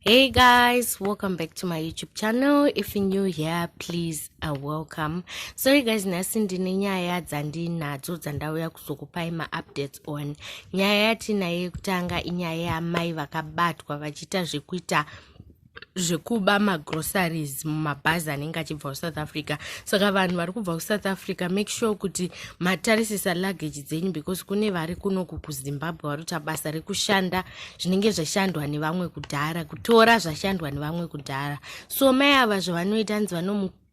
hey guys welcome back to my youtube channel if you're new here please uh, welcome sorry guys nhasi ndine nyaya dzandinadzo dzandauya kuzokupai maupdates on nyaya yatinayo yekutanga inyaya yamai vakabatwa vachiita zvekuita zvekuba magroceries mumabhazi anenge achibva kusouth africa saka vanhu vari kubva kusouth africa make sure kuti matarisisa luggage dzenyu because kune vari kunoku kuzimbabwe vari kuita basa rekushanda zvinenge zvashandwa nevamwe kudhara kutora zvashandwa nevamwe kudhara so mai ava zvavanoita nzi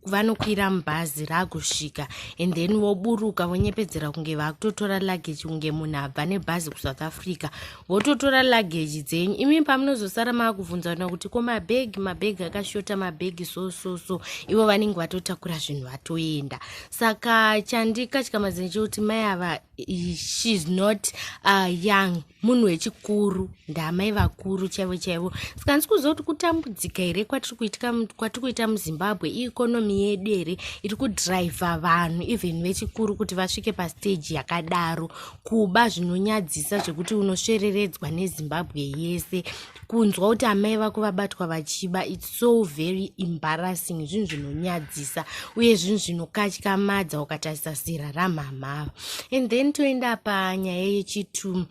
vanokwira mubhazi ragusvika and then voburuka vonyepedzera kunge vakutotora luggage kunge munhu abva nebhazi kusouth africa vototora luggage dzenyu imi pamunozosara maakubvunzana kuti ko mabhegi mabhegi akashota mabhegi so so so ivo vanenge vatotakura zvinhu vatoenda saka chandikatyamadza nechekuti mai ava she's not uh, young munhu wechikuru ndaamai vakuru chaivo chaivo saka handisi kuziva kuti kutambudzika here kwatiri kuita muzimbabwe iekonomi yedu here iri kudhiraivha vanhu even vechikuru kuti vasvike pasteji yakadaro kuba zvinonyadzisa zvekuti unosvereredzwa nezimbabwe yese kunzwa kuti amai vako vabatwa vachiba its so very embarrassing zvinhu zvinonyadzisa uye zvinhu zvinokatyamadza ukatarisa zera ramhamha ava and then toenda panyaya yechitu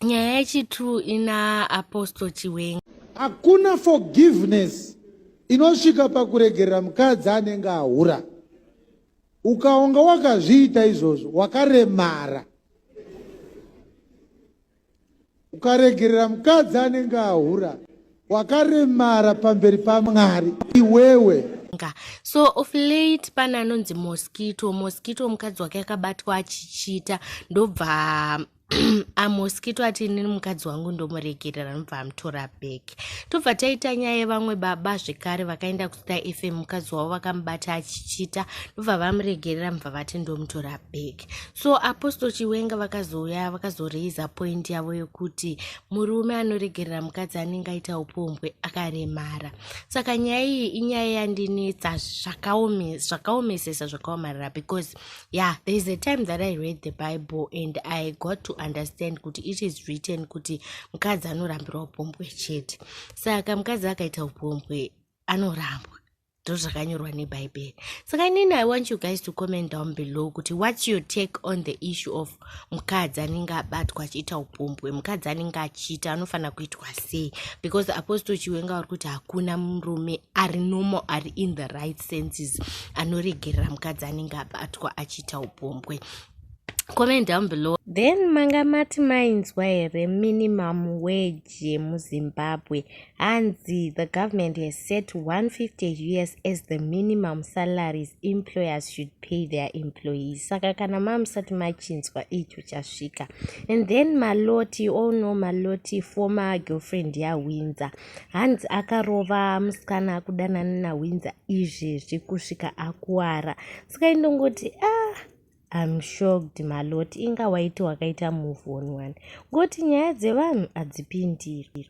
nyaya yechitu ina apostle chiwenga hakuna forgiveness inosvika pakuregerera mukadzi anenge ahura ukaonga wakazviita izvozvo wakaremara ukaregerera mukadzi anenge ahura wakaremara pamberi pamwari iwewe so of late pane anonzi mosquito mosquito mukadzi wake akabatwa achichita ndobva amosquito ati inini mukadzi wangu ndomuregerera ndobva amutora back tobva taita nyaya yevamwe baba zvekare vakaenda Star FM mukadzi wavo vakamubata achichita ndobva vamuregerera mubva vati ndomutora back so apostle chiwenga vakazouya vakazoreiza point yavo yokuti murume anoregerera mukadzi anenge aita upombwe akaremara saka nyaya iyi inyaya yandinetsa zvakaomesesa zvakaomarara because yeah there is a time that i read the bible and i got to understand kuti it is written kuti mukadzi anorambirwa upombwe chete saka mukadzi akaita upombwe anorambwa ndozvakanyorwa nebhaibheri saka inini i want you guys to comment down below kuti whats your take on the issue of mukadzi anenge abatwa achiita upombwe mukadzi anenge achiita anofanira kuitwa sei because apostle chiwenga wari kuti hakuna murume ari normal ari in the right senses anoregerera mukadzi anenge abatwa achiita upombwe comment down below then manga mati mainzwa here minimum wage yemuzimbabwe Hanzi the government has set 150 us as the minimum salaries employers should pay their employees saka kana mamusati machinzwa icho chasvika and then maloti all know maloti former girlfriend yawinza hanzi akarova musikana akudanana nawinza izvezvi kusvika akuwara saka indongoti ah I'm shocked maloti inga waiti wakaita move on one ngoti nyaya dzevanhu hadzipindiri